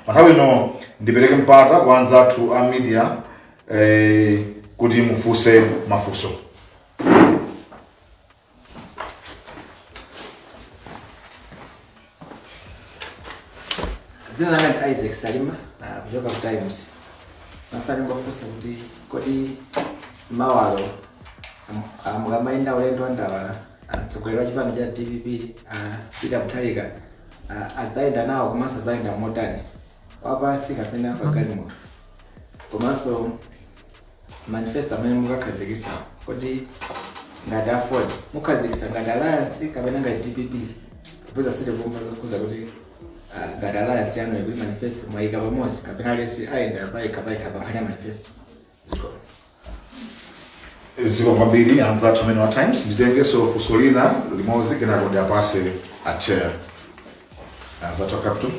pa nthawi ino ndipereke mpata kwa anzathu a media eh, kuti mufunse mafunso dzina langa ndi isaac salima ah, kuchoka ku times ndimafuna ndingofunsa kuti kodi mawalo mu- ah, mukamayenda ulendo wa ndawala ah, mtsogoleri wa chipani cha dpp ah, peter mutharika Ah, adzayenda nawo komanso adzayenda motani wapansi kapena pagalimoto komanso manifesto amene mukakhazikisa kodi ngati aford mukhazikisa ngati alliance kapena ngati dpp popeza sitinamve zokhudza kuti ah, ngati alliance yanu ikuti manifesto mwayika pamodzi kapena aliyense ayenda payekha payekha pankhani ya manifesto zikomo kwambiri anzathu amene wa times nditengeso funso lina limodzi kenako ndiwapatse a chair anzathu a capital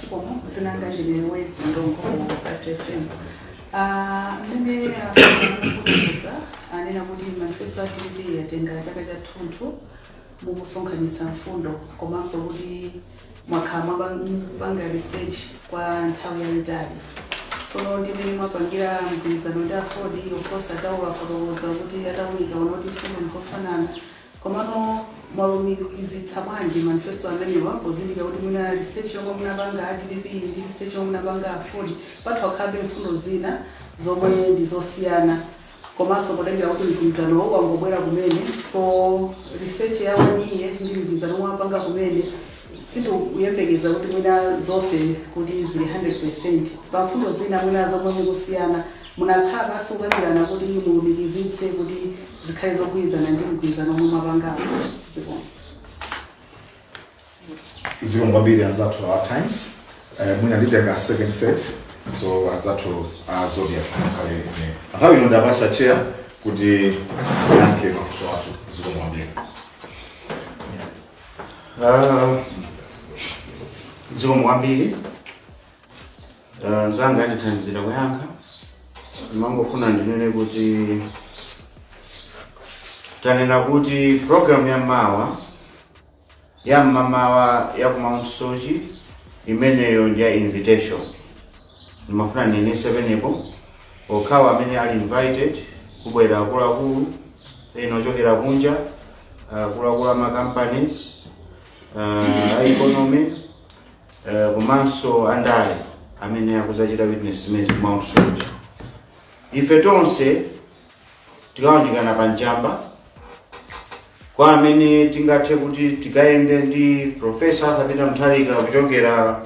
zikomo dzina langa winwezi ndongo capital fm Ah, mmene akufotokoza anena kuti manifesto ya dpp yatenga chaka chathunthu mukusonkhanitsa mfundo komanso kuti mwakhala mukupanga research kwa nthawi yayitali tsono ndi mmene mwapangira mgwirizano ndi aford of course atawafotokoza kuti atawunika aona kuti mfundo nzofanana Komano mwalumikizitsa bwanji manifesto amenewa pozindikira kuti mwina research yomwe munapanga a dpp ndi research yomwe munapanga aford patha kukhalabe mfundo zina zomwe ndi zosiyana komanso potengera kuti mgwirizanowo wangobwera kumene so research ya one year ndi mgwirizano womwe mwapanga kumene sindikuyembekeza kuti mwina zonse kuti zili 100 percent pa mfundo zina mwina zomwe mukusiyana Munakhala pansi kukambirana kuti mulumikizitse kuti zikhale zogwirizana ndi mgwirizano omwe mwapangawo. Zikomo. zikomo kwambiri anzathu a times eh, mwina nditenga second set so anzathu a zodiac adikire kaye nthawi ino ndiwapatsa chair kuti ayankhe mafunso atatu zikomo kwambiri Ah, zikomo kwambiri Eh, mzanga andithandizira kuyankha ndimangofuna ndinene kuti tanena kuti programu ya mawa ya mmamawa ya ku mount soche imeneyo ndi ya invitation ndimafuna ndinenese pamenepo okhawa amene ali invited kubwera akuluakulu ena ochokera kunja akuluakulu a ma companies uh, a economy eh, komanso andale amene akudzachita witness zimenezi ku mount soche ife tonse tikawunjikana pa njamba kwa amene tingathe kuti tikayende ndi profesa arthur peter mutharika kuchokera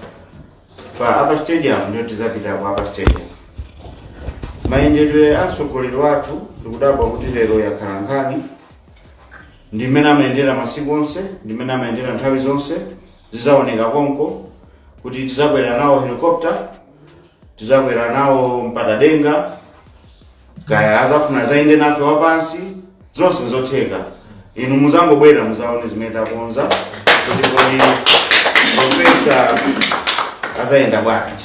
pa upper stadium ndiyo tizapita ku upper stadium mayendedwe a mtsogoleri wathu ndikudabwa kuti lero yakhala nkhani ndi mmene amayendera masiku onse ndi mmene amayendera nthawi zonse Zidzaoneka konko kuti tizakwera nawo helicopter, tizakwera nawo mpatadenga, kaya azafuna azayende nafe wapansi, zonse nzotheka. Inu muzangobwera muzaone zimene takonza kuti kodi profesa azayenda bwanji.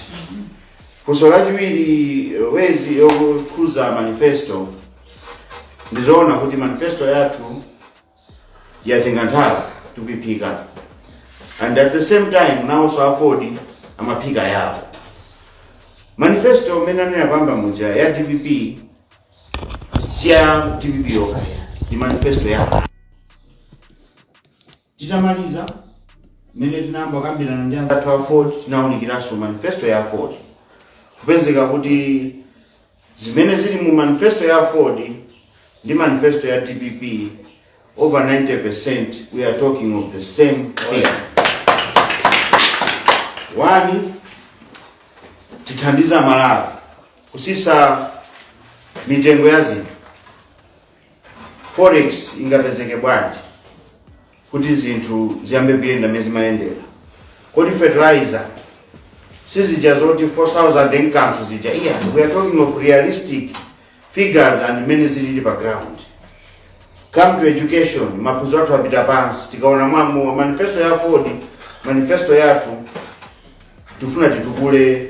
Funso lachiwiri Wezi yokhuza manifesto ndizoona kuti manifesto yathu yatenga nthawi tikuiphika and at the same time nawonso aford amaphika yawo manifesto imene anena pamba muja ya dpp si ya dpp yokha ndi manifesto yawo titamaliza mmene tinayamba kukambirana ndi anzathu a aford tinawunikiranso manifesto ya aford kupezeka kuti Zimene zili mu manifesto ya aford ndi manifesto ya dpp over 90% we are talking of the same thing. One, tithandiza Malawi kusisa mitengo ya zinthu Forex ingapezeke bwanji kuti zinthu ziyambe kuyenda mmene zimayendera? Kodi fertilizer sizija zoti 4000 and kanthu zija? Iya, we are talking of realistic figures and mmene zilili pa ground. Come to education, maphunziro athu apita pansi, tikaona mwa manifesto ya Aford, manifesto yathu tifuna titukule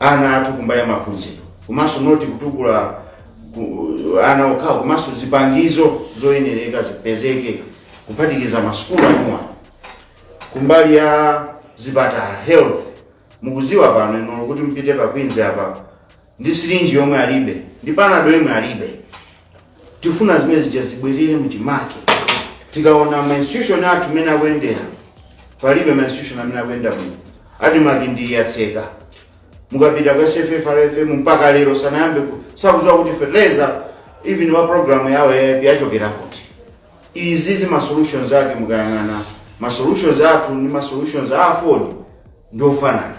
ana athu kumbali ya maphunziro komanso not kutukula ku- ana okhawo komanso zipangizo zoyenereka zipezeke kuphatikiza masukulu anuwa kumbali ya zipatala health mukuziwa pano ino kuti mupite pa queens apa ndi sirinji yomwe alibe ndi panado yomwe alibe tifuna zimene zija zibwerere mchimake tikaona ma institution athu mmene akuyendera palibe ma institution amene akuyenda bwino admarc ndi yatseka mukapita kwa sffrfm mpaka lero sanayambe ku- sakudziwa kuti fertilizer even wa program yawo ya aip yachokera kuti izizi ma solutions ake mukayang'ana ma solutions athu ndi ma solutions a aford ndiofanana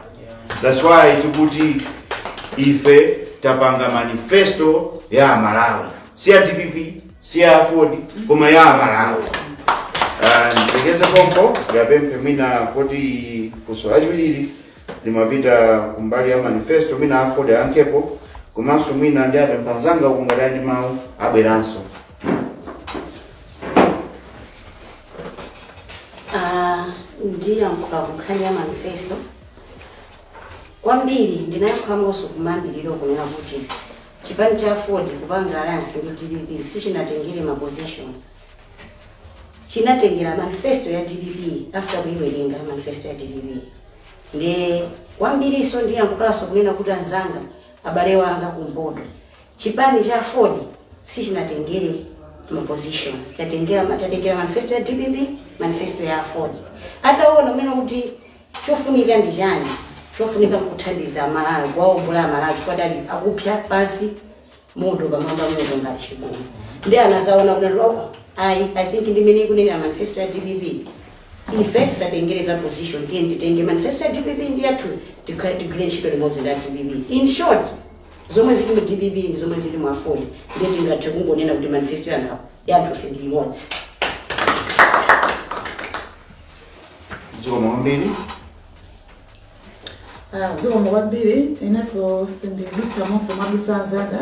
that's why tikuti ife tapanga manifesto ya Malawi si ya dpp si ya aford koma ya Malawi nditengeze pompo ndiwapemphe mwina kuti funso lachiwiri limapita kumbali ya manifesto mwina aford ayankhepo komanso mwina ndi atsamwali anzanga ngati ali ndi mawu abweranso Ah, ndiyankhula kunkhani ya manifesto kwambiri ndinayankhulanso kumayambiriro kunena kuti chipani cha aford kupanga alliance ndi dpp sichinatengere ma positions chinatengera manifesto ya dpp after kuiwerenga manifesto ya dpp nde kwambirinso ndiyankhulanso kunena kuti anzanga abale wanga kumpoto Chipani cha aford sichinatengere ma positions, chatengera ma- chatengera manifesto ya dpp, manifesto ya aford. Ataona mmene kuti chofunika ndi chani, chofunika nkuthandiza Malawi, kuwaombola Malawi chifukwa anali akupsa pansi moto pamwamba moto ngati chigumu. Nde anazaona kuti loko, ayi, I think ndi imene ikunenera manifesto ya dpp ife tisatengereza position tiyeni titenge manifesto ya dpp ndi yathu tikha- tigwire ntchito limodzi ndi a dpp in short Zomwe zili mu dpp ndi zomwe zili mu Aford ndiye tingathe kungonena kuti manifesto yathu yathu ife ndi imodzi. zikomo kwambiri zikomo kwambiri inenso sindidutsa monse mwadutsa anzanga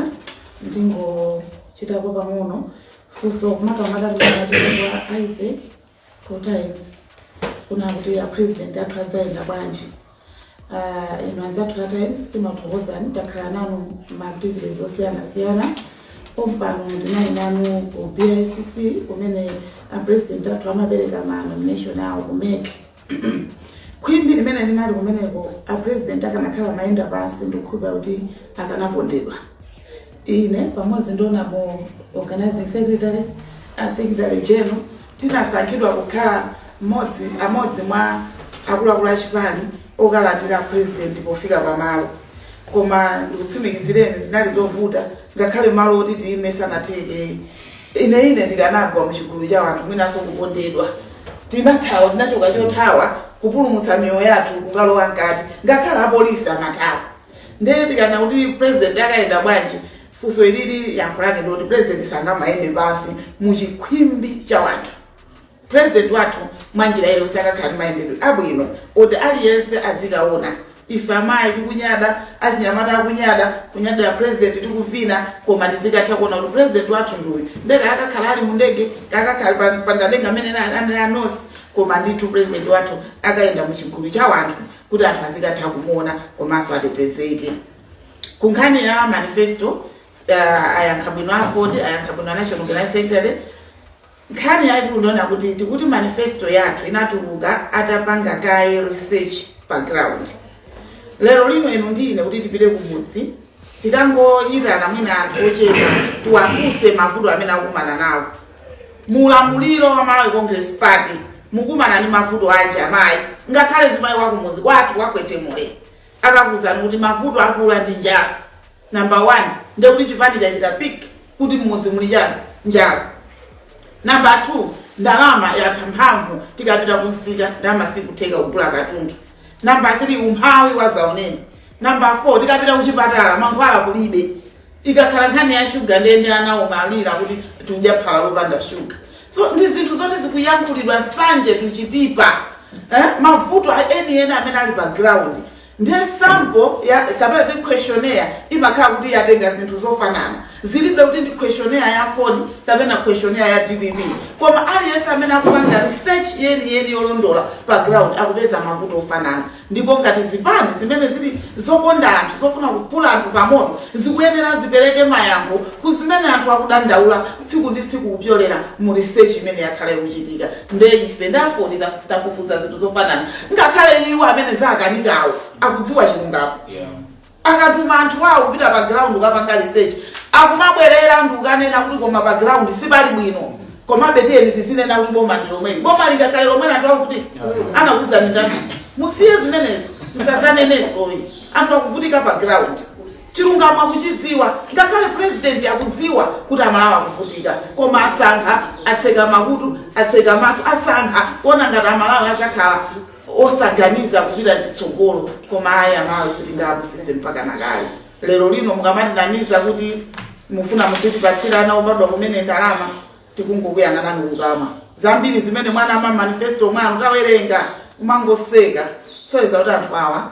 ndingochitapo pang'ono funso kumakamaka kwa a Isaac ku times kunena kuti apresident athu adzayenda bwanji uh, inu anzathu a times timakuthokozani takhala nanu maaktivities osiyanasiyana pompano ndinali nanu ku bicc kumene apresident athu amapereka ma nomination awo ku mec khwimbi limene linali kumeneko apresident akanakhala amayenda pansi ndikukhulupira kuti akanapondedwa Ine pamodzi ndi Honorable Organizing Secretary a Secretary General tinasankhidwa kukhala amodzi mwa akuluakulu a chipani okalandira president pofika pamalo koma ndikutsimikizireni zinali zovuta ngakhale malo oti tiyime sanatheke ine ine ndikanagwa mu chigulu cha wanthu mwinanso kupondedwa tinathawa tinachoka chothawa kupulumutsa miyoyo yathu kukalowa mkati ngakhale apolisi amathawa ndiye tikanena kuti president akayenda bwanji funso ilili yankho lake ndikuti president sangamayende pansi mu chikhwimbi cha wanthu president wathu mwa njira iyo sakakhala ndi mayendedwe abwino oti aliyense azikaona ife amayi tikunyada achinyamata akunyada kunyadira president tikuvina koma tizikatha kuona kuti president wathu ndi uyu ndege akakhala ali mundege akakhala pa- pa ndadenga amene anali anosi koma ndithu president wathu akayenda mu chigulu cha wanthu kuti anthu azikatha kumuona komanso atetezeke ku nkhani ya manifesto uh, ayankha bwino aford ayankha bwino national organizing secretary nkhani yaikulu ndiyonena kuti tikuti manifesto yathu inatuluka atapanga kaye research pa ground lero lino inu ndi ine kuti tipite kumudzi tikangoyitana mwina anthu ochepa tiwafunse mavuto amene akumana nawo mu ulamuliro wa malawi congress party mukumana ndi mavuto anji amayi ngakhale mzimayi wakumudzi kwathu kwakwetemule akakuuzani kuti mavuto aakulu ndi njala number one ndekuti chipani chachita pik kuti mmudzi muli chiyani njala namba 2 ndalama yatha mphamvu tikapita kunsika ndalama sikutheka kugula katundu namba 3 umphawi wadzaoneni namba 4 tikapita kuchipatala mankhwala kulibe ikakhala nkhani ya shuga ndiye ndi ana akumalira kuti tikudya phala lopanda shuga so ndi zinthu zoti zikuyankhulidwa nsanje tuchitipa eh? mavuto a- enieni amene ali pa ground ndi sample ya kapena ndi questionnaire imakhala kuti yatenga zinthu zofanana zilibe kuti ndi questionnaire ya aford kapena questionnaire ya dpp koma aliyense amene akupanga research yeniyeni yolondola pa ground akupeza mavuto ofanana ndipo ngati zipani zimene zili zokonda anthu zofuna kupula anthu pamoto zikuyenera zipereke mayankho ku zimene anthu akudandaula tsiku ndi tsiku kupyolera mu research imene yakhala ikuchitika nde ife ndafoni taf- tafufuza zinthu zofanana ngakhale iwo amene zawakanikawo akudziwa chilungamo Yeah. akatuma anthu awo kupita pa ground kukapanga research akumabwerera ndi kukanena kuti koma pa ground sipali bwino komabe tiyeni tizinena kuti boma ndi lomweli boma lingakhale lomweli anthu akuvutika anakuuzani ndani musiye zimenezo musadzanenenso ayi anthu akuvutika pa ground chilungamo akuchidziwa ngakhale president akudziwa kuti amalawi akuvutika koma asankha atseka makutu atseka maso asankha kuona ngati amalawi adzakhala osaganiza kupita chitsogolo koma ayi amalawi sitingapusitse mpaka kalekale lero lino mukamatinamiza kuti mufuna muzitipatsira ana obadwa kumene ndalama tikungokuyang'anani nkukhala zambiri zimene mwanena mma manifesto mwanu tawerenga kumangoseka osayesa kuti anthu awa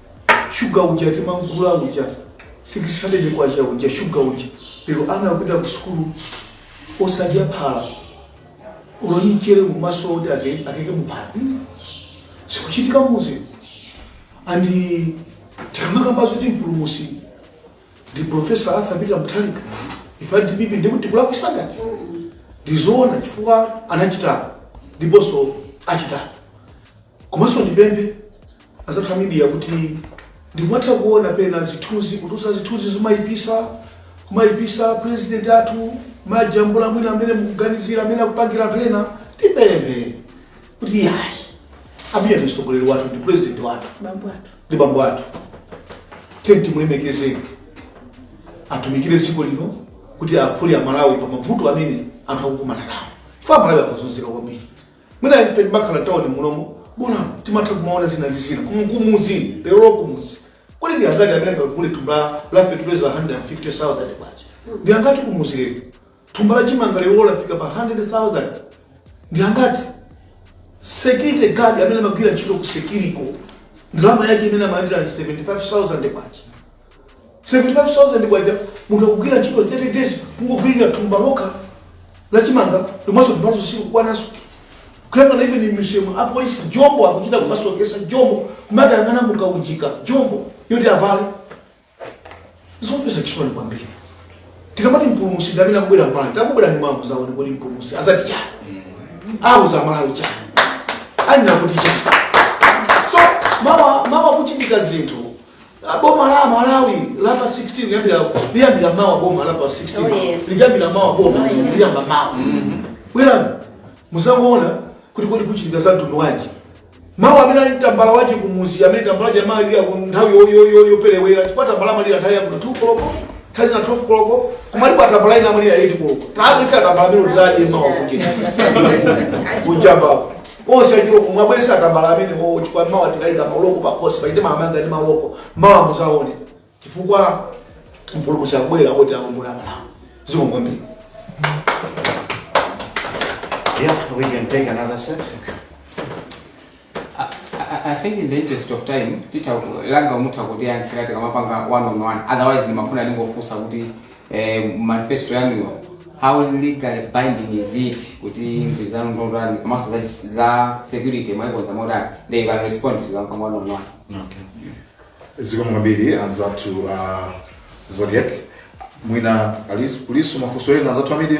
shuga uja timamgula uja 600 kwacha uja shuga uja lero ana akupita ku sukulu osadya phala ulibe mchere mumaso oti ake- akeke muphala Mm. sikuchitika m'mudzi and tikamakamba zoti mpulumusi ndi profesa arthur peter muthalika ife dpp si kuti tikulakwitsa ndizoona chifukwa anachita ndiponso achita komanso ndipemphe azathu amidiya kuti ndimatha kuona pena zithunzi kutulutsa zithunzi zimayipisa kumayipisa president athu majambula mwina amene mukuganizira amene akupangira pena tipemphe kuti yayi apiya ndi mtsogoleri wathu ndi president wathu bambo athu ndi bambo athu tiyeni timulemekeze atumikire dziko lino kuti aphule amalawi pa mavuto amene anthu akukumana nawo chifukwa amalawi akuzunzika kwambiri mwina ife timakhala tawoni munomo bona timatha kumaona zina ndi zina Kumu- kumuzi lero kumuzi kodi ndi angati amene angagule thumba la- la fetuliza 150000 kwacha ndi angati kumuzi lero thumba la chimanga lero lafika pa 100000 ndi angati security guard amene amagwira ntchito ku security ko ndalama yake imene amalandira 75000 kwacha 75,000 kwacha munthu akugwira ntchito 30 days kungogwirira thumba lokha la chimanga lomwenso thumbalo sikukwananso kuyang'ana even m'misewumu apolisi jombo akuchita kumasokesa jombo kumakayang'ana mukaunjika jombo yoti avale zofesa chisoni kwambiri tikamati mpulumusi ndamene akubwera m'bale akubwera ndiye mawa muzaone kuti mpulumusi azati chani auza malawi chani anena kuti chani so mawa mawa kuchitika zinthu Ah, boma la malawi lapa 16 liyambira liyambira mawa boma lapa 16 Oh, yes. liyambira mawa boma Oh, yes. liyamba mawa bwerani muzamuona kuti kodi kuchitika za mtundu wanji mawa amene ali ndi tambala wachi kumuzi amene tambala wachi amalira mu nthawi yo- yo- yo- yoperewera chifukwa tambala amalira nthawi ya 2 koloko nthawi zina 12 koloko kumalipo atambala ina amalira 8 koloko taabisani atambala amenewo chifukwa mawa kuchita kuchampa onse achiloko muwabise atambala amenewo chifukwa mawa tikayika maloko pakhosi paja timamanga ndi maloko mawa muzaone chifukwa mpulumusi akubwera kuti akonze malawi zikomo kwambiri Yeah, we can take another set. I, I- I think in the interest of time titapanga mutha kutiyankhira tikamapanga one on one otherwise ndimafuna ndingofunsa kuti eh, manifesto yanuyo how legally binding is it kuti mgwirizano ndotani komanso za chis- za security mwaikonza motani they can respond tikamapanga one on one Okay. zikomo kwambiri anzathu uh, zodiac mwina alis- kulinso mafunso ena anzathu a media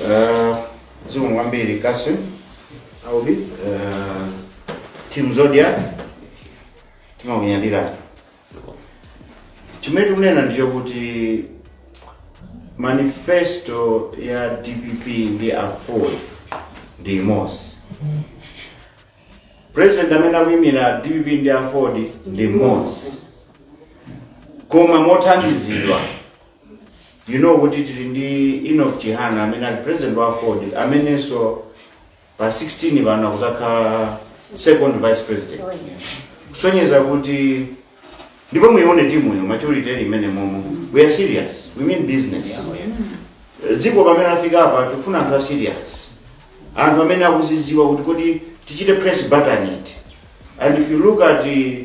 Uh, zikomo kwambiri Kasim. Aubi. Uh, Team Zodiac. Timakunyadira. Chimene tikunena ndicho kuti manifesto ya DPP ndi Aford ndi imodzi. President amene akuyimira DPP ndi Aford ndi mmodzi. Koma mothandizidwa you know kuti tili ndi Enoch Chihana amene ali president wa Aford amenenso pa 16 pano akuzakhala second vice president kusonyeza kuti ndipo muione timu yo maturity ili imene momo we are serious we mean business dziko pamene lafika apa tikufuna anthu a serious anthu amene akuziziwa kuti kodi tichite press button it and if you look at the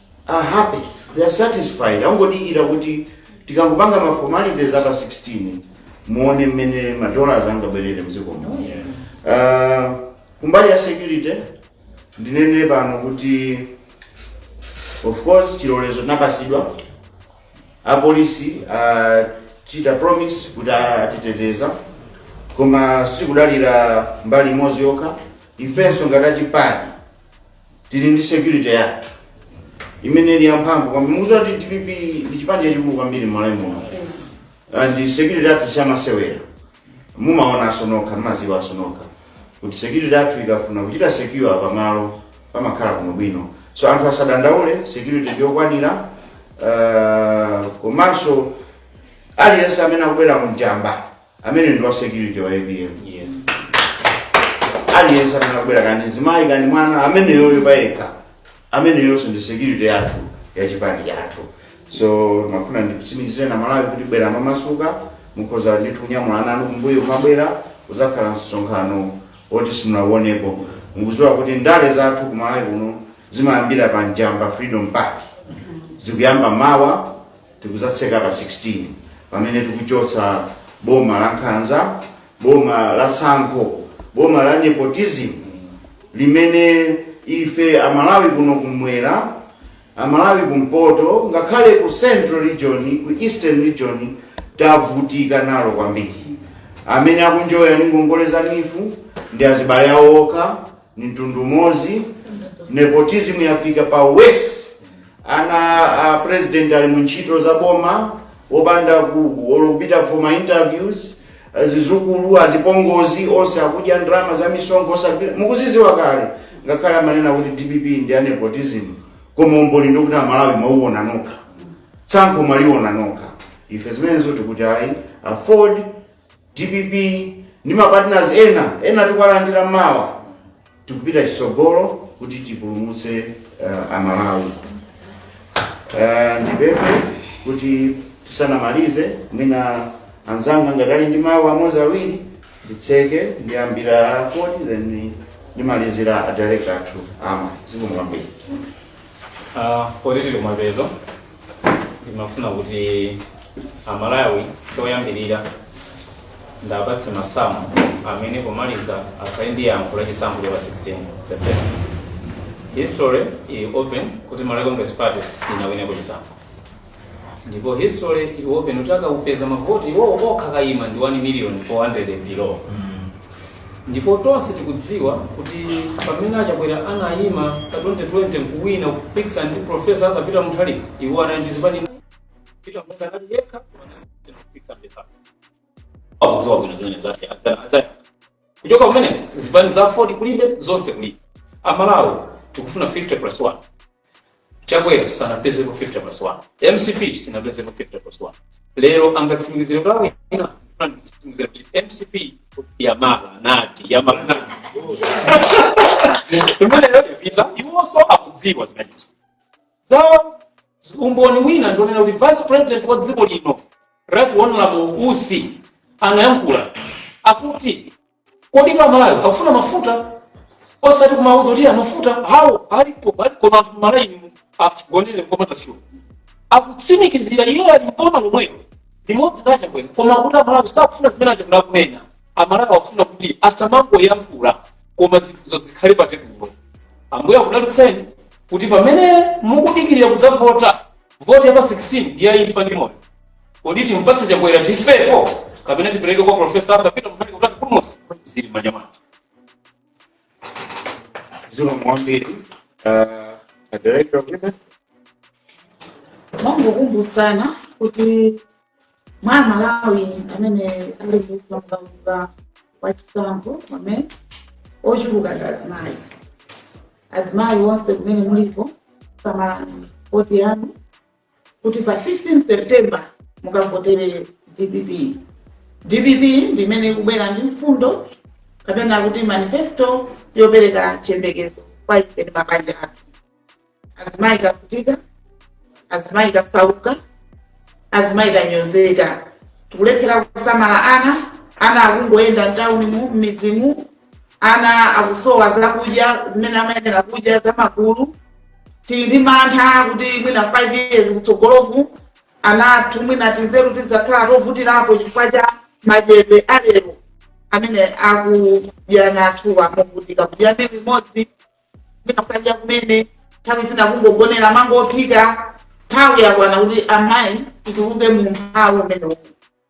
are happy they are satisfied angodikira kuti tikangopanga ma formalities a pa 16 muone mmene ma dollars angabwerere mdziko muno uh, kumbali ya security ndinene pano kuti of course chilolezo tinapasidwa apolisi achita promise kuti atiteteza koma sikudalira mbali imodzi yokha ifenso ngati achipani tili ndi security yathu imene ili yamphamvu kwambiri mukuziwa kuti dpp ndi chipani chachikulu kwambiri mmalawi muno and security yathu siyamasewera mumaonanso nokha mumaziwanso nokha kuti security yathu ikafuna kuchita secure pamalo pamakhala kuno bwino so anthu asadandaule security ndiyokwanira uh, komanso aliyense amene akubwera ku Njamba amene ndi wa security wa apm yes aliyense amene akubwera kani mzimayi kani mwana ameneyoyo payekha ameneyonso ndi security yathu ya chipani chathu so ndimafuna ndikusimikizire aMalawi kuti bwerani momasuka mukhoza ndithu kunyamula ana anu kumbuyo kumabwera uzakhala msonkhano woti simunauonepo mukuziwa kuti ndale zathu ku malawi kuno zimayambira pa njamba freedom park zikuyamba mawa tikuzatseka pa 16 pamene tikuchotsa boma la nkhanza boma la tsankho boma la nepotism limene ife amalawi kuno kumwera amalawi kumpoto ngakhale ku central region ku eastern region tavutika nalo kwambiri amene akunjoya ndi ngongole za neef ndi azibale awo okha ni mtundu umodzi nepotism yafika pa worst ana a president ali mu ntchito za boma opanda ku- olo kupita for ma interviews eh, zizukulu azipongozi onse akudya ndalama za misonkho osagwira mukuziziwa kale ngakhale amanena kuti dpp ndi ya nepotism koma umboni ndi woti amalawi mwauona nokha tsankho mwaliona nokha ife zimenezo tikuti ayi aford dpp ndi mapartners ena ena tikuwalandira mawa tikupita chisogolo kuti tipulumutse uh, amalawi uh, ndipemphe kuti tisanamalize mwina anzanga ngati ali ndi mawu amodzi awiri nditseke ndiyambira a Ford then ndimalizira adirector athu amayi zikomo kwambiri Ah, poti tili kumapeto ndimafuna kuti amalawi choyambirira ndapatse masamu amene pomaliza akhale ndi yankho la chisankho cha pa 16 september history ili open kuti malawi congress party sinawineko chisankho ndipo history is open utakawapeza mavoti iwowo okha akayima ndi 1 million 400 below ndipo tonse tikudziwa kuti pamene achakwera anayima pa 2020 nkuwina kupikisana ndi profesa Arthur Peter Mutharika iwo anali ndi zipani Peter Mutharika anali yekha anasiyana kupikisana ndi Mutharika. akudziwa bwino zimene zake adzaya kuchoka kumene zipani za Aford kulibe zonse kulibe amalawi tikufuna 50 plus 1 chakwera sanapezepo 50 plus 1 mcp sinapezepo 50 plus 1 lero angatsimikizire kwa ena angatsimikizire kuti mcp yamala nayinti yamala nayinti imeneyo yapita iwonso akudziwa zimenezo zawo umboni wina ndi wonena kuti vice president wa dziko lino right honorable usi anayankhula akuti Kodi Amalawi akufuna mafuta? Osati kumauza kuti mafuta awo alipo koma anthu Amalawi akugonera kopanda fuel. Akutsimikizira iwo ali mboma lomwelo limodzi la Chakwera koma akuti Amalawi sakufuna zimene a Chakwera akunena. Amalawi akufuna kuti asamangoyankhula koma zinthuzo zikhale pa tebulo. Ambuye akudalitseni kuti pamene mukudikirira kudzavota voti ya pa 16 ndi ya imfa ndi moyo. kodi timpatse chakwera tifepo kapena tipereke kwa profesa Arthur Peter Mutharika kuti atipulumutse zili m'manja mwathu zikomo kwambiri uh, director of women ndimangokumbutsana kuti mwa amalawi amene ali mukaundula wa chisankho amene ochuluka ndi azimayi azimayi onse kumene muliko samalani voti yanu kuti pa 16 September mukavotere dpp. Dpp ndi imene ikubwera ndi mfundo kapena kuti manifesto yopereka chiyembekezo kwa ife ndi mabanja athu. Azimayi tavutika, azimayi tasauka, azimayi tanyozeka, tikulephera kusamala ana, ana akungoyenda mtauni mu m'midzi mu, ana akusowa zakudya zimene amayenera kudya zamagulu tili ndi mantha kuti mwina 5 years kutsogoloku ana athu mwina tizeru tizakhala tovutirapo chifukwa cha madyedwe alero amene akudya ana athuwa movutika kudya mbewu imodzi mwina sadya kumene nthawi zina kungogonera mango ophika nthawi yakwana kuti amayi tituluke mu umphawi umenewu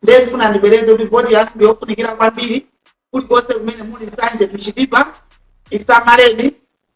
ndiye ndifuna ndibwereze kuti voti yathu ndiyofunikira kwambiri kulikonse kumene muli nsanje tuchilipo isamaleni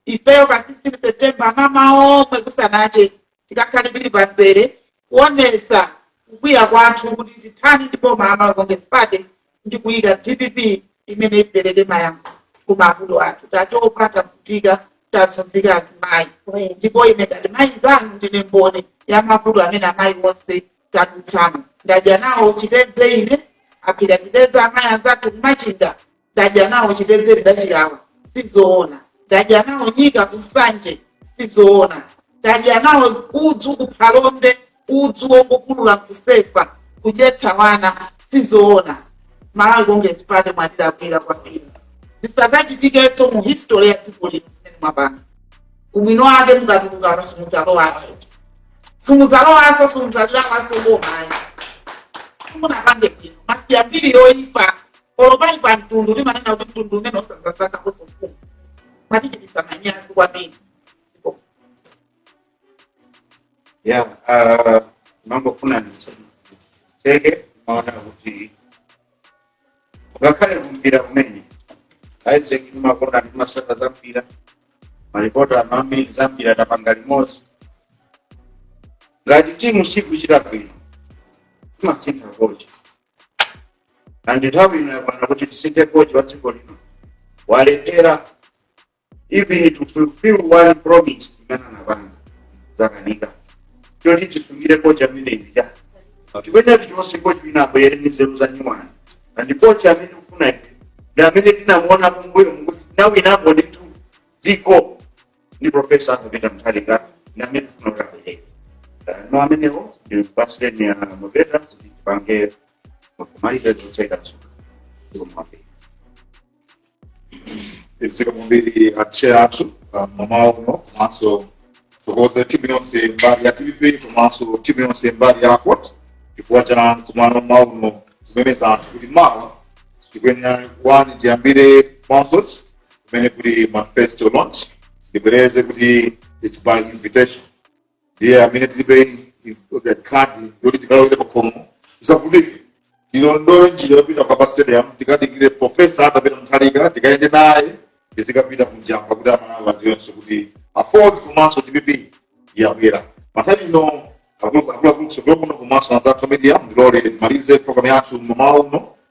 ifeyo pa 16 september mmamawa kusanache tikakhale tili pamzere kuonesa kukwiya kwathu kuti tithani ndi boma la malawi congress party ndi kuyika dpp imene ipereke mayankho ku mavuto athu tatopa tavutika tazunzika azimayi ndipo ine ngati mayi zanu ndine mboni ya mavuto amene amayi onse tadutsamo ndadya nawo chitedze ine aphika chitedze amayi anzathu ku Machinga ndadya nawo chitedze ndidachilawa sizoona ndadya nawo nyika ku Nsanje sizoona ndadya nawo udzu ku Phalombe udzu wongopulula kusefa kudyetsa wana sizoona malawi congress party mwatilakwira kwambiri zisadzachitikenso mu history ya dziko lino zimene mwapanga ubwino wake mukatuluka simudzalowaso simudzalowaso simudzalilawaso bomayi simunapange bwino mwasiya mbiri yoyipa olo pali pa mtundu timanena kuti mtundu umene usazasankha kosofumu mwatichitisa manyazi kwambiri ya ah, mwambo ndifuna nditseke ponena kuti ngakhale kumpira kumene a Aizeki timakonda ndimatsata za mpira malipota a mbiri za mpira tapanga limodzi ngati timu sikuchita bwino timasintha kocha and nthawi ino yakwana kuti tisinthe kocha wa dziko lino walephera even to fulfill one promise imene anapanga zakanika choti tisungire kocha ameneyi ncha tikuyenera tichotse kocha wina abwere ndi nzeru za nyuwani and kocha amene tikufuna ife ndi amene tinamuona kumbuyomu kuti anawinapo ndithu dziko ndi profesa Arthur Peter Mutharika ndi amene tifuna kuti abwere Eh, no amenewo ndi President a Mpeta kuti tipange kumaliza zotseka msuka zikomo mwafika zikomo kwambiri a chair athu ah, mmamawa uno komanso tithokoze timu yonse mbali ya tv komanso timu yonse mbali ya court chifukwa cha mkumano mmawa uno kumemeza anthu kuti mawa tikuyenera kuwani tiyambire mwansochi kumene kuli manifesto launch ndibwereze kuti its by invitation ndiye amene tilibe kadi yoti tikalowere pakhomo zakuti tilondole njira yopita kwa pa stadium tikadikire profesa Arthur Peter Mutharika tikayende naye tizikapita ku Njamba kuti amalawi adziwenso kuti AFORD komanso dpp yabwera panthawi ino akuluakulu kutsogolo kuno komanso anzathu media ndiloleni ndimalize programu yathu mamawa uno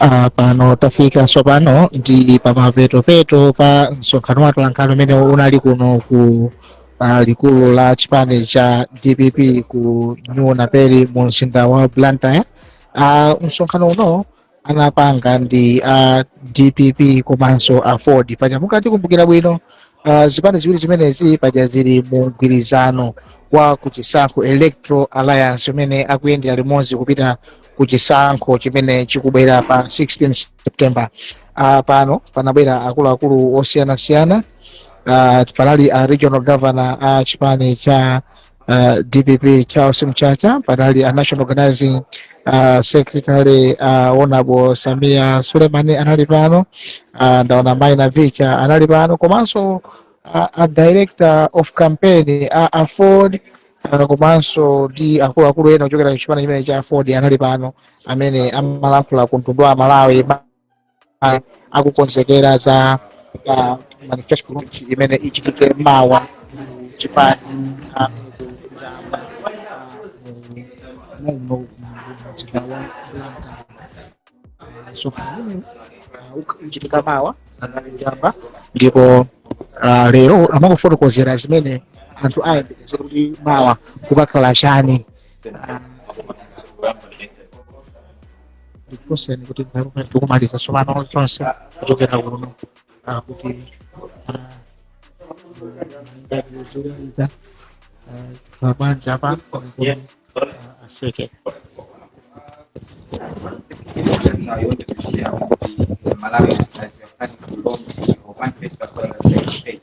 Ah, pano tafika tsopano ndi pamapetopeto pa msonkhano wa atolankhani umene unali kuno ku ah, likulu la chipani cha dpp ku new naperi mu mzinda wa blantyre Ah, msonkhano uno anapanga ndi a dpp komanso AFORD paja mukatikumbukira bwino uh, zipani ziwiri zimenezi paja zili mu mgwirizano wa kuchisankho electoral alliance umene akuyendera limodzi kupita ku chisankho chimene chikubwera pa 16 september uh, pano panabwera akuluakulu osiyanasiyana uh, panali a regional governor a chipani cha uh, dpp charles mchacha panali a national organizing uh, secretary uh, honorable Sameer Suleman anali pano uh, ndaona mayi Navicha anali pano komanso uh, a director of campaign uh, a AFORD uh, komanso ndi akuluakulu ena kuchokera ku chipani chimene cha AFORD anali pano amene amalankhula ku mtundu wa Malawi a- akukonzekera za ah, manifesto launch imene ichitike mawa ku chipani ah, muno mzinda wa Blantyre. so pamene ah, uk- uchitika mawa pa Njamba ndipo ah, lero amakufotokozera zimene anthu ayembekeze kuti mawa kukakhala chani Ah, ndikuuzeni kuti nthawi imene tikumaliza tsopano zonse kuchokera kuno ah, kuti ndatizoyaliza zikhala bwanji apa kuti ah, aseke Malawi is like a country belongs to one place, but on the same state.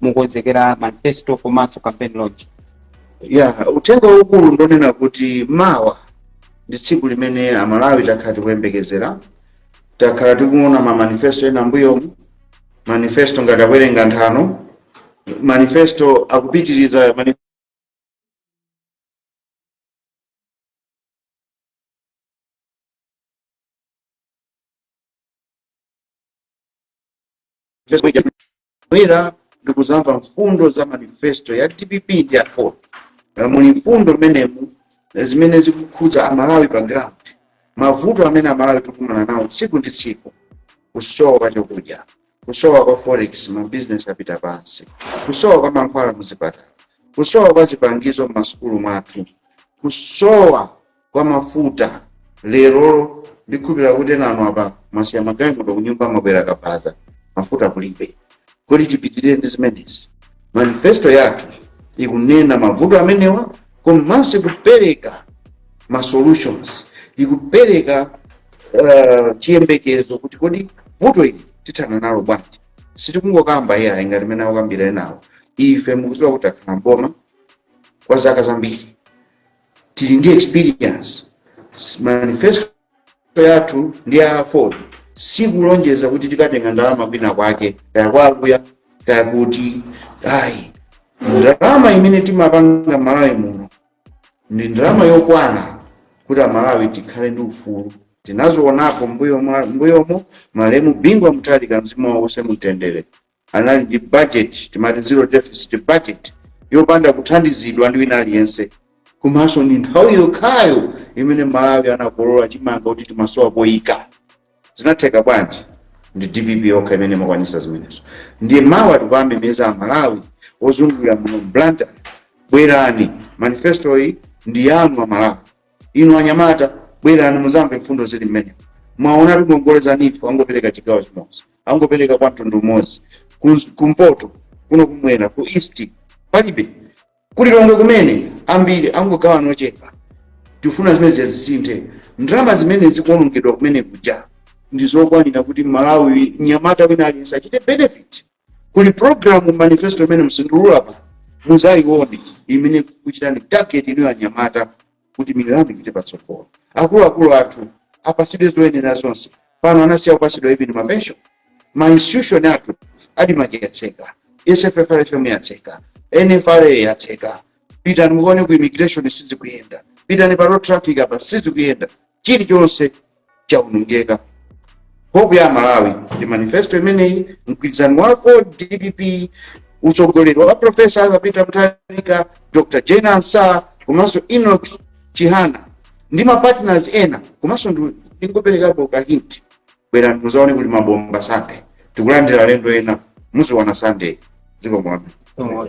mukonzekera manifesto komanso campaign launch ya uthenga waukulu ndonena kuti mawa ndi tsiku limene amalawi takhala tikuyembekezera takhala tikuona ma manifesto ena m'mbuyomu manifesto ngati akuwerenga nthano manifesto akupitiriza mani- kubwera ndi kuzamva mfundo za manifesto ya dpp ndi ya aford Eh, muli mfundo mmenemu eh, zimene zikukhudza amalawi pa ground mavuto amene amalawi tikukumana nawo tsiku ndi tsiku kusowa kwa chakudya kusowa kwa forex mabizinesi apita pansi kusowa kwa mankhwala muzipatala kusowa kwa zipangizo m'masukulu mwathu kusowa kwa mafuta lerolo ndikhulupira kuti enanu apa mwasiya magalimoto kunyumba mwabwera pa kabaza mafuta kulibe kodi tipitirire ndi zimenezi manifesto yathu ikunena mavuto amenewa komanso ikupereka ma solutions ikupereka uh, chiyembekezo kuti kodi vuto ili tithana nalo bwanji sitikungokamba iyayi ngati mene akukambira enawo ife mukuziwa kuti takhala mboma kwa zaka zambiri tili ndi experience manifesto yathu ndi aford sikulonjeza kuti tikatenga ndalama kwina kwake kaya kwa akuya kaya kuti ayi ndalama imene timapanga malawi muno ndi ndalama yokwana kuti amalawi tikhale ndi ufulu tinazionako mbuyomo mbuyomo malemu bingu wa mutharika mzimu wawo uuse mumtendere anali ndi budget timati zero deficit budget yopanda kuthandizidwa ndi wina aliyense komanso ndi nthawi yokhayo imene malawi anakolola chimanga kuti timasowa poyika zinatheka bwanji ndi dpp yokha imene imakwanisa zimenezo ndiye mawa tikuwamemeza amalawi ozungulira muno mblantyre bwerani manifestoyi ndi yanu amalawi inu anyamata bwerani muzamve mfundo zili mmenemu mwaona kuti ngongole za neef angopereka chigawo chimodzi angopereka kwa mtundu umodzi Ku- kumpoto kuno kumwera ku east palibe ku lilongwe kumene ambiri angogawana ochepa tikufuna zimenezi zisinthe ndalama zimene zikuonongedwa kumene kuja ndi zokwanira kuti malawi nyamata wina aliyense achite benefit kuli programu manifesto imene msindulula pa muzaione imene ikuchitani target inuyo anyamata kuti miyoyo yanu ipite patsogolo akuluakulu athu apasidwe zoyenera zonse pano anasiya kupasidwa even mapensho ma institution athu admarc yatseka sffrfm yatseka nfra yatseka pitani muone ku immigration sizikuyenda pitani pa road traffic apa sizikuyenda chilichonse chaonongeka hope ya malawi ndi manifesto imeneyi mgwirizano wa aford dpp utsogoleri wa profesa arthur peter mutharika dr jane ansah komanso enoch chihana ndi mapartners ena komanso ndi- ndingoperekapo ka hint bwerani muzaone kuli mabomba sunday tikulandira alendo ena muziona sunday zikomo kwambiri Somo.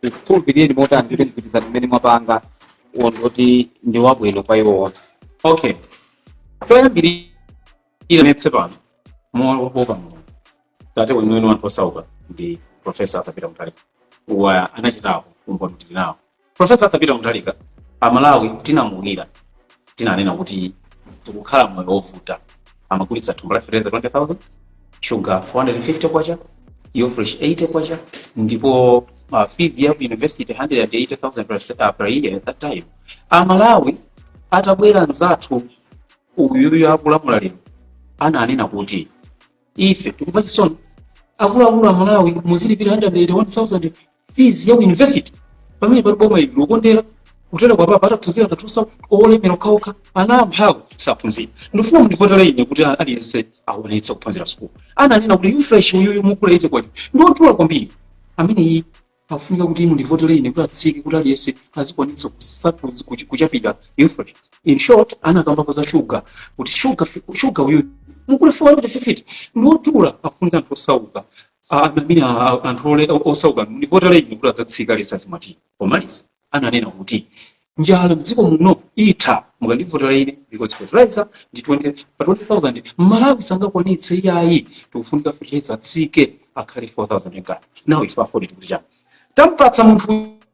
tikhulupirire motani kuti mgwirizano umene mwapanga wondoti ndi wabwino kwa iwo onse okay choyambirira ndinenetse pano mowopa mulungu tate weniweni wa anthu osauka ndi profesa Arthur Peter Mutharika anachitako umboni tili nawo Profesa Arthur Peter Mutharika amalawi tinamuukira tinanena kuti tikukhala moyo wovuta amagulitsa thumba la fertilizer 20000 sugar 450 kwacha ufresh 80 kwacha ndipo uh, fees ya ku university 180000 per, se- uh, per year at that time amalawi atabwera mzathu uyuyu akulamula lero ananena kuti ife tikumva chisoni akuluakulu amalawi muzilipira 181000 fees ya ku university pamene pali boma ili lokondera kutereku apapa ataphunzira kathusa olemera okhaokha ana amphawi saphunzira ndifuna mundivotere ine kuti aliyense akwanitse kuphunzira sukulu ananena kuti ufresh uyuyu mukugula 80 kwacha ndi odula kwambiri amene iyi afunika kuti mundivotere ine kuti atsike kuti aliyense azikwanitsa kusatu kuch- kuchapira ufresh in short anakambapo za shuga kuti shuga fi- shuga uyuyu mukugula 450 ndi odula afunika anthu osauka anamina anthu ole- osauka mundivotere ine kuti adzatsika lesa zimati pomaliza ananena kuti njala mdziko muno itha mukandivotera ine because fertilizer ndi 20 pa 20000 mmalawi sangakwanitse iyayi tikufunika fertilizer atsike akhale 4000 ngati now ife AFORD tikuti chani tampatsa munthu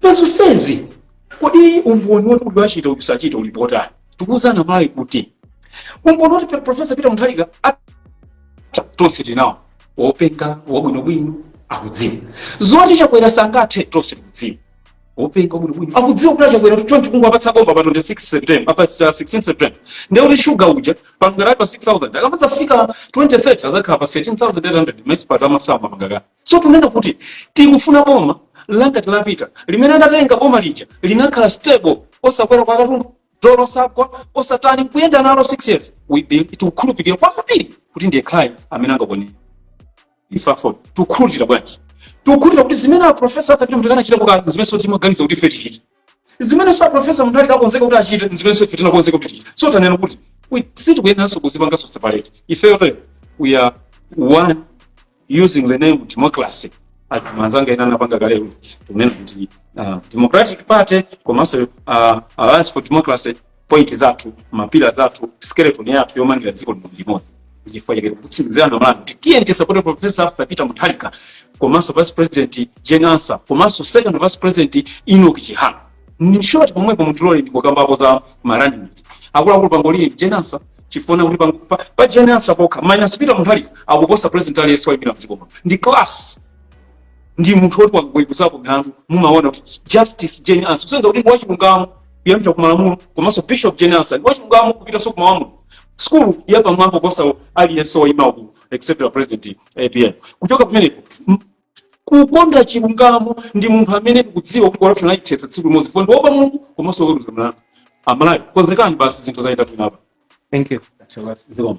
Pa zonsezi, kodi umboni woti kuti wachita uyu sachita uli potani? Tikuwuzana Malawi kuti umboni woti Pe- Professor Peter Mutharika at- tonse tili nawo wopenga wabwinobwino akudziwa zoti Chakwera sangathe tonse tikudziwa wopenga wabwinobwino akudziwa kuti a Chakwera chonchi kungowapatsa boma pa 26 september pa 16 september ndiye kuti shuga uja pangakati pa 6000 akamadzafika 2030 azakhala pa 13800 maexpert amasamu mangakati so tikunena kuti tikufuna boma langati la Peter limene anatenga boma lija linakhala stable osakwera kwa katundu dollar osagwa osatani nkuyenda nalo 6 years we be- tikukhulupirira kwambiri kuti ndi yekhayo amene angakonze ife AFORD tikukhulupirira bwanji tikukhulupirira kuti zimene aprofesa Arthur Peter Mutharika anachita kukhala zimenenso ti- timaganiza kuti ife tichita zimenenso aprofesa Mutharika akonzeka kuti achite nzimenenso ife tinakonzeka kuti tichite so tanena kuti we- sitikuyeneranso kuzipanganso separate ifeyo we are one using the name democracy as anzanga ena anapanga kale kuti tikunena kuti uh, democratic party komanso uh, alliance for democracy point zathu mapila zathu skeleton yathu yomangira dziko lino limodzi ndichifukwa chake tikutsimikizirana m'bwalomu kuti tiyeni tisapote profesa arthur peter mutharika komanso vice president jane ansah komanso second vice president enoch chihana in short pomwepo mutilole ndikukambapo za marunning mate akuluakulu pangolini jane ansah chifukwa kuti pang- pa, pa jane ansah pokha minus peter mutharika akuposa president aliyense waimirira mdziko muno ndi class ndi munthu woti wakaweruzapo milandu mumaona kuti justice jane ansah kusonyeza kuti ndi wachilungamo kuyambira ku malamulo komanso bishop jane ansah wachilungamo kupitanso ku malamulo skulu yapamwamba kuposa aliyense wayimawo except the president apm kuchoka kumeneko m- kukonda chilungamo ndi munthu amene tikudziwa kuti corruption ayithetsa tsiku limodzi fo ndi oopa mulungu komanso oweruza mlandu amalawi konzekani basi zinthu zayenda bwino apa thank you zikomo